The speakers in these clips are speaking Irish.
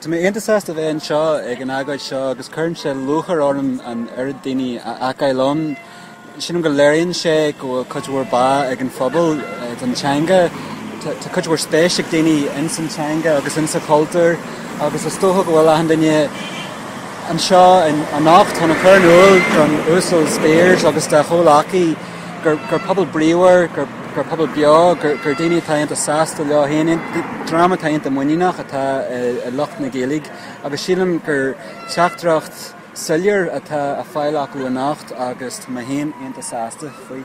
Tá mé iontach sásta a bheith anseo ag an agóid seo agus cuireann sé lúcháir orm an oiread daoine a fheiceáil ann. Sílim go léiríonn sé go bhfuil cuid mhór báidhe ag an phobal don teanga. Tá cuid mhór spéis ag daoine ins an teanga agus ins an chultúr agus is dócha go bhfuil achan duine anseo anocht chun a chur in iúl don Uasal Speers agus dá chomhleacaí, gur pobal bríomhar, gur pobal beo, gur daoine atá iontach sásta leo féin, dream atá iontach muiníneach atá i lucht na Gaeilge agus sílim gur teachtaireacht soiléir atá á fáil acu anocht agus tá mé féin iontach sásta faoi.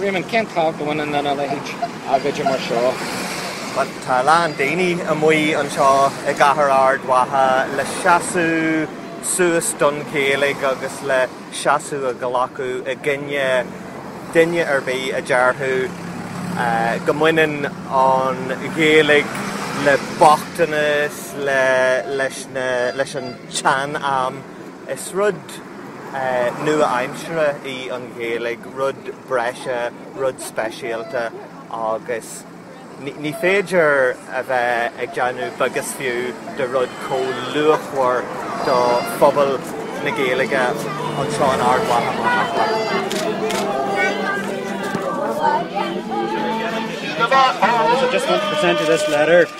Réamonn, Cén tábhacht a bhaineann lena leithéid d'agóid mar seo? Bhuel, tá a lán daoine amuigh anseo i gcathair Ard Mhacha le seasamh suas don Ghaeilge agus le seasamh a ghlacadh i gcoinne duine ar bith a déarfadh go mbaineann an Ghaeilge le bochtanas, leis an tsean-am. Is rud. nua-aimseartha í an Ghaeilge, rud breise, rud speisialta, agus ní féidir a bheith ag déanamh beag is fiú de rud chomh luachmhar do phobal na Gaeilge anseo in Ard Mhacha, mar shampla. Is é an rud is tábhachtaí faoi láthair ná go bhfuil an Ghaeilge ag fás agus ag fás.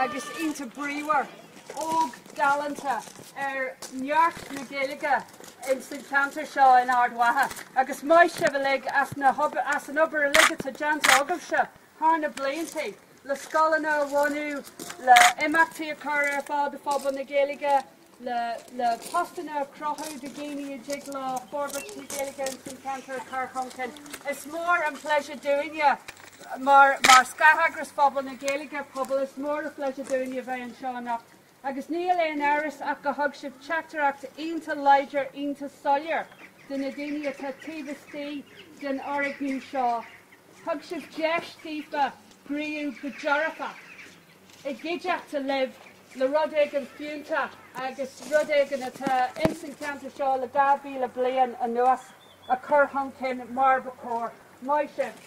agus iontach bríomhar, óg, galánta ar neart na Gaeilge ins an cheantar seo in Ard Mhacha agus maith sibh uilig as na hobair, as an obair uilig atá déanta agaibhse thar na bliantaí le scoileanna a bhunú, le imeachtaí a chur ar fáil do phobal na Gaeilge, le postanna a chruthú do dhaoine a dtig leo forbairt na Gaeilge ins an cheantar a chur chun cinn. Is mór an pléisiúr dúinne mar scátheagras Pobal na Gaeilge, pobal, is mór an pléisiúr dúinne a bheith anseo anocht agus níl aon amhras ach go thug sibh teachtaireacht iontach láidir, iontach soiléir do na daoine atá taobh istigh den fhoirgneamh seo. Thug sibh deis daofa gníomhú go dearfach. i gcuideachta libh le rud éigin fiúntach agus rud éigin atá ins an cheantar seo le dhá mhíle bliain anuas a chur chun cinn mar ba chóir. Maith sibh.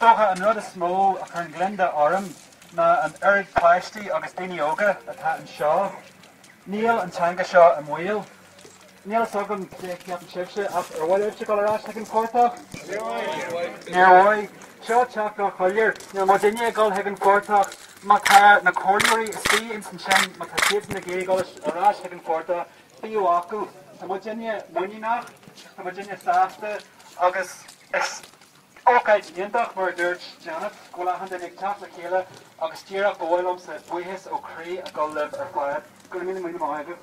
dócha, an rud is mó a chuireann gliondar orm ná an oiread páistí agus daoine óga atá anseo. Níl an teanga seo i mbaol. Níl a fhios agam cad é a cheapann sibhse, ach ar mhaith libhse dul ar ais chuig an phortach? Níor mhaith. Seo teachtaireacht shoiléir. Níl muidinne ag dul chuig an phortach. Má tá na Comhairleoirí istigh ansin, má tá siadsan ag iarraidh dul ar ais chuig an phortach, bíodh acu. Tá muidinne muiníneach, tá muidinne sásta, agus is. Ócáid iontach, mar a dúirt Janet, go bhfuil achan duine ag teacht le chéile agus díreach ba mhaith liomsa buíochas ó chroí a ghabháil libh ar fad. Go raibh míle míle maith agaibh.